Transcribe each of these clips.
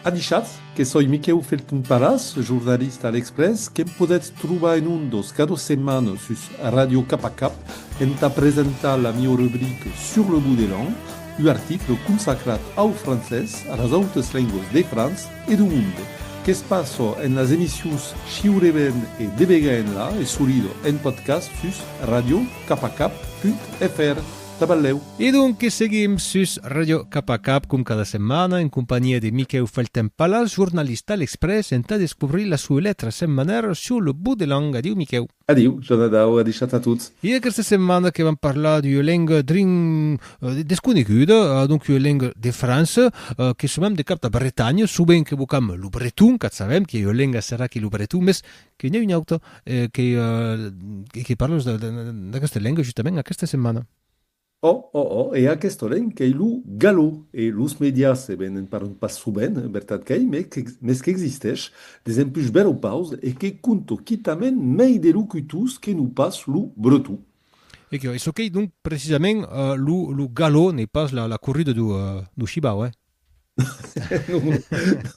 Avichatz que soi Miquèu Felton Paras, jornalista a L'Exprès, que'm podètz trobar en ondas cada setmana sus Radio Cap a Cap entà presentar la mieu rubrica Sur le bout de langue, un article consacrat au francés, a las autas lengas de França e de monde. Que's passa en las emissions Shiure ben e Debegaenla e solida en podcast sus radiocapacap.fr. Taballèu. E donques seguim sus Ràdio Cap a Cap, com cada setmana, en companhiá de Miquèu Felten-Palas, jornalista a L'Exprès, entà descobrir la sua letra setmanèra sur lo but de lanh. Adiu, Miquèu. Adiu, Jonadau, adishat a tots. E aquesta setmana que vam parlar d'ua lenga drin desconeguda, adonc ua lenga de França, que somam de cap d'a Bretanha, subent qu'evocam lo breton, qu'a sabèm, qu'ei ua lenga serà que lo breton, mès Que n'i a un autre que que parle d'aqueste lenga justament aquesta setmana. Oh, oh, oh, e aquesta lenga qu'ei lo gallo e los medias e ben en parlan pas sovent, vertat qu'ei, mes qu'existesh desempush beropaus e que conto quitament mei de locutors que non pas lo breton. E que çò qu'ei donc precisament lo gallo, n'ei pas la corrida do shibau, eh? non,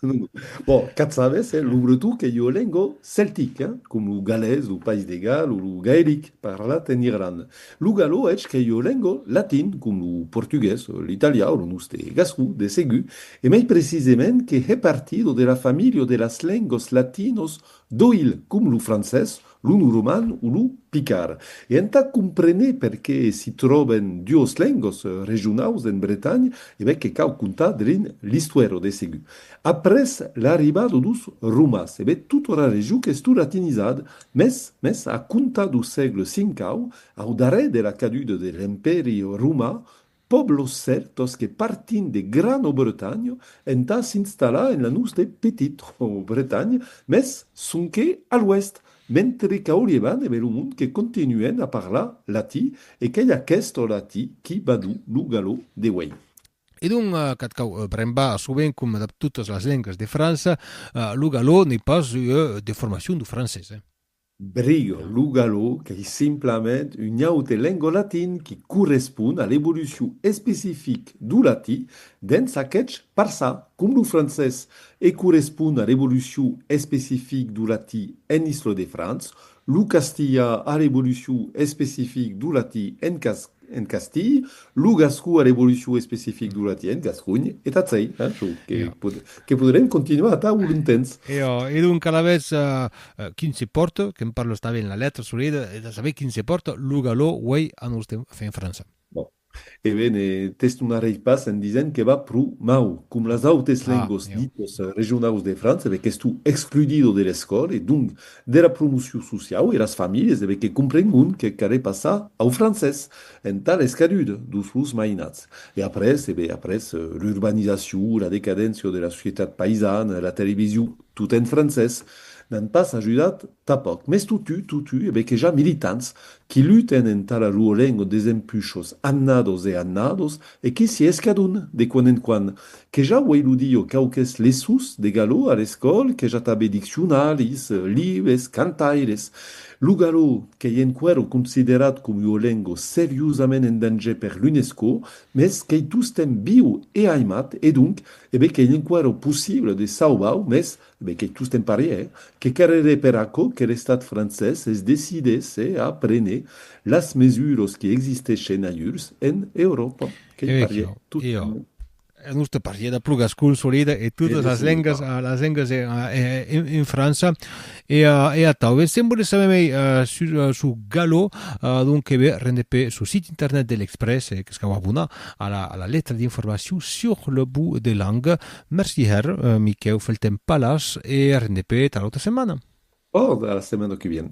non, non. Bon, qu'a sabes, eh, lo bretó qu'ei ua lenga celtic, eh, com lo galés, lo País de Gal o lo gaelic parlat en Irlanda. Lo galó, hètz, qu'ei ua lenga latin, com lo portugués, l'italià o lo noste gascon, de segur, e mai precisement que hè partido de la familha de las lengas latinas d'oïl, com lo francés, Lo norman o lo picard. E entà compréner perqué s'i tròben duos lengos regionaus en Bretanha, e ben que cau contar de l'un l'istuèro de segur. Après l'arribado dos Romas, e ben tot ora region qu'es tot latinizad, mes, mes a comptar do sègle V au, au darrèr de la caduda de l'Empèri Romà, Pòblos cèltos que partint de Grano-Bretanha entà s'installar en la noste Petito-Bretanha, mès sonque a l'oèst, mentre qu'a Olievan e Belomont que continuen a parlar latí e qu'ei aqueste latí qui badu lo galò de uèi. E donc, qu'ath cau brembar sovent coma dab totas las lengas de França, lo galò n'ei pas ua deformacion dau francés. Briga, lo galó, qu'ei simplament un aute lengo latin qui correspond a l'evolucion especific do latí dens aquetz parçà com lo francés e correspond a l'evolucion especific do latí en Isle-de-France, lo castilhà a l'evolucion especific do latí en Castilha, En castilh, lo gascon a l'evolucion especific du latien, gascony, e tatzei, çò que podrem continuar atau lo longtemps. E donc, alavetz, quin se pòrta, que'm parle esta ben la letra solida, e de saber quin se pòrta lo galò uei a nos temps, enfin en França. Bon. E ben, t'estonarei pas en disent que va pro mau, com las autes lengos ditos regionaus de França, ben qu'estó excludido de l'escòla, e donc, Dera promocion sociau e las familhes debe que comprengon que care passar au francés entà l'escadut dus los mainats. E après, ebe après, l'urbanizacion, la decadéncia de la societat paisana, la television tot en francés, n'an pas ajudat tà pòc. Mès totu, totu, ebe que ja militants qui luten entà la lor lenga desempuchos annados e annados E que s'i escadon, de quan en quan, que ja uei lo diu quauques leçons de galò a l'escòl, que ja tabe diccionaris, libes, cantaires. Lo galò, qu'ei enqüèro considerat com ua lengo seriosament en danger per l'UNESCO, mès qu'ei tostemp viu e aimat e donc, e be qu'ei enqüèro possible de sauvar-o, mès, Ben qu'ei tostemp paria, eh? Que carrerè per aquò que l'Estat francés es decidés, eh, a prene las mesuros qui existeschen aiurs en Euròpa. Qu'ei paria, tostemp. Es noste paria de plugas consolidas e totas las lengas, las lengas en França e atau. Ben, se'n volètz saber mei sus su galò, donc que ve rendèt per su sit internet de l'Express, qu'es cau abonar a la letra d'informacion sur le bout des langues, Merci hèr, Miquèu Felten Palas e arren de pè tà l'auta setmana. Ò, tà la setmana que vien.